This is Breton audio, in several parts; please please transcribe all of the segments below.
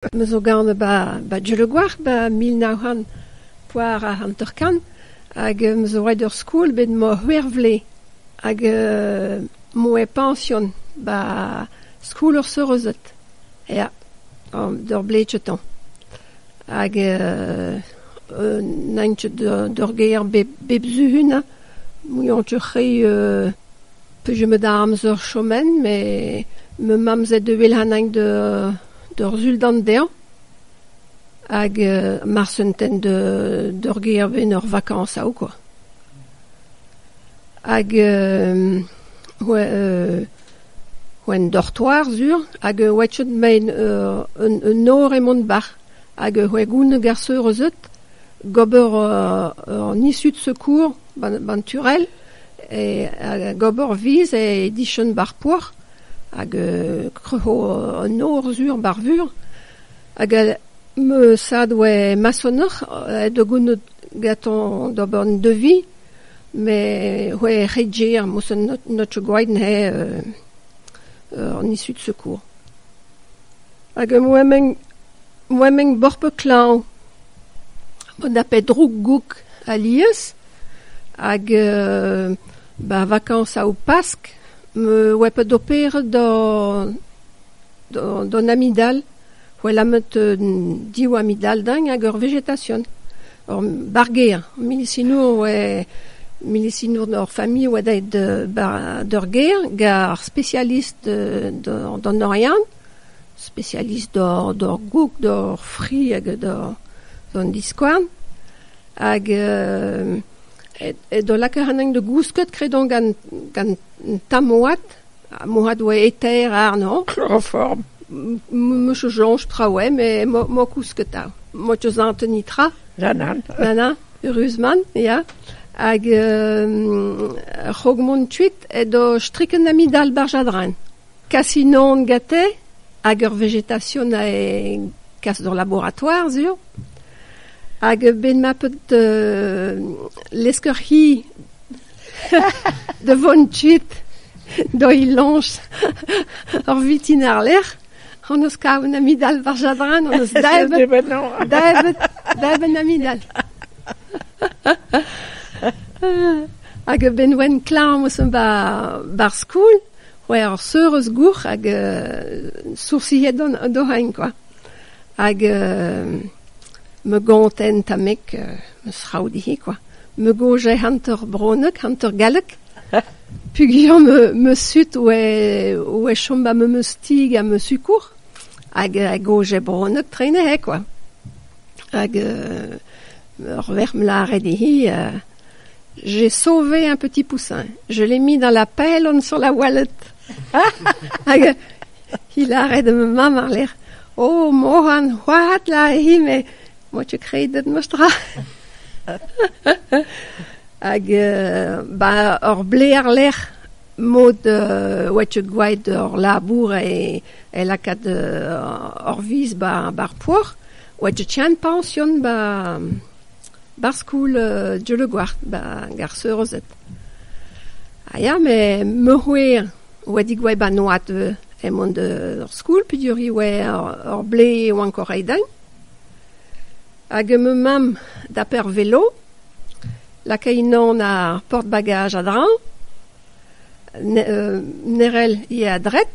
Me zo ganet ba ba Dieulagouarc'h ba mil nav c'hant poar ha hanter-kant hag me zo roet ur skol bet emañ c'hwec'h vlez hag emañ e pension ba skol ur seurezed ya d'ur blezetañ hag n'aint ket d'ur gêr bep suhun muiañs re peus me da amzer chomet met ma mamm 'zay da welc'h anaint da d'ur sultan dezhañ hag ma'z un tenn d'ur gêr-benn ur vakañs atav kwa. Hag en dortoir sur hag oachet mein un nor e Montbach hag c'hwegont garseur eus out gober an isud-sekour ba'n turell hag gober 'viz e dichon bar porzh hag kroc'ho an nor sur ba'r vur hag ma sad oa masonoc'h da gounit gantañ d'ober an devis met oa er c'hedje ar mosenn not so gwraet n'he an issu d'secours hag oa mein borpl klañv mod a pet droug-goug alies hag ba vakañs au Pask 'm oa bet operet d'un amidal, c'hwel amet div amidal-deñ hag ur vegetasion, ur barr-gêr. Milisinour a oa, milisinour hor familh a oa daet d'ur gêr gant ar spesialist d'an Oriant, spesialist d'hor goug, d'hor fri hag d'an diskouarn. Hag Edo lakaat anezhañ da gousket kredoñ gant gant tamm-oad, ha moarvat oa eter àrnañ. Kloroform. M-'meus o soñj traoù eo met m'ho kousketa. M'ho teus anveni tra. Na na. Na na, eürusmant, ya. Hag ur c'hrog-mont tuit edo strikenn amidal barzh adren. Kasinón gete hag ur vegetasión a kas d'ur laboratoire sur hag bet ma peus lesker-hi da vont kuit d'hoi lañch ur vitin àr-lerc'h hon eus kavet un amidal war jadran hon eus daebet daebet un amidal hag ben oen klañv 'm eus 'ba ar skol C'hwec'h eur seur eus gourc'h hag soursiet d'o c'hein kwa. Hag me gonten tamek ma sraoù dic'hi kwa. Me goñje hanter bronek, hanter gallek. Pugiañ me, me sut oe, oe chom ba me meus stig ha me sukour. Hag a goñje bronek trene he kwa. Hag ur verc'h 'm lâre dic'hi J'ai sauvé un petit poussin, je l'ai mis dans la pylone sur la wallet. Hag il arrête de me marler. Oh, Mohan, wat la hime, moet je kreden moest ra. Hag uh, ba ur bleer lec'h mod uh, oa tu gwaet ur labour e, e lakat uh, ur vis ba, bar poar, oa tu tian pension ba, 'Barzh skol Dieullegouarn 'ba Gar Seurezed. Ha ya, met me c'hwezh 'oa digoaet 'ba Noad ivez, eo mont d'ur skol peogwir e oa ur blez e oan o reiñ din. Hag ma mamm dape ar velo, lakae unan ar porte-bagages a-dreñv, ne rell ivez a-dret.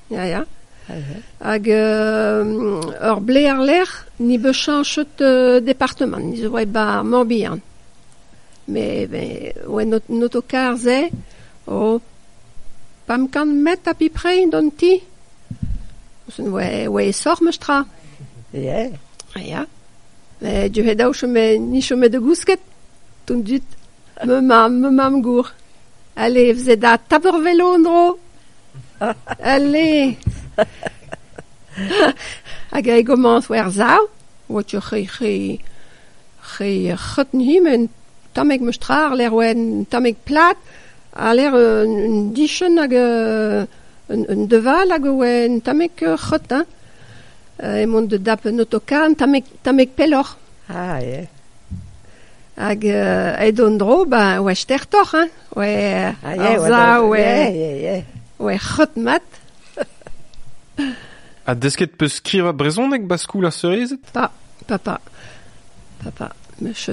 Ya, ya. Hag euh, ur blez àr-lerc'h ni 'beus chañchet departamant, ni zo 'oa bar Morbihan. Met ben, oe not noto-karr-se, oh, p'am kant met apiprei d'an ti, oa oa e soc'h meus tra. Ya. Ya. Du he daou chome, ni chome da gousket, tout dut. Ma mamm, ma mamm-gour, allez, vous êtes à Taporvelo en-dro Allez Hag e gomañs war sav, wot ur c'he c'he c'he c'hreuten himen tamek meus tra ar lec'h oa un tamek plat a lec'h un, un dichen hag euh, un, un deval hag oa un tamek euh, c'hreut hein euh, e mont da dap un autokar un tamek tamek pelloc'h. Ah, yeah. Hag aet an dro ba oa stertoc'h hein, oe ar sav oe c'hreut-mat. Ha desket 'peus skrivañ brezhoneg 'ba skoul ar seurezed? Pa, pa, pa, pa, pa. Meus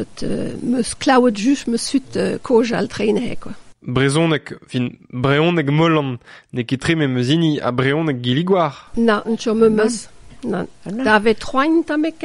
meus klaouet just meus sut kaoz all treine quoi. Brezhoneg, fin brezhoneg Molan n'eo ket tre memes hini ha brezhoneg Gilligouar. Na, n'cho meus. Na, davet 'troaint tamek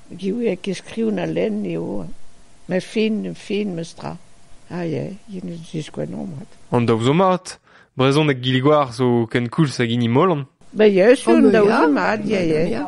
Gewier keskriven ha lenn eo, met fin, fin memestra. Ah ya, yen a ziskouezh omp mat. An daou zo mat. Brezhoneg Gilgoar zo kenkoulz hag hini Molan. Ben ya, sur, an daou zo mat, ya, ya.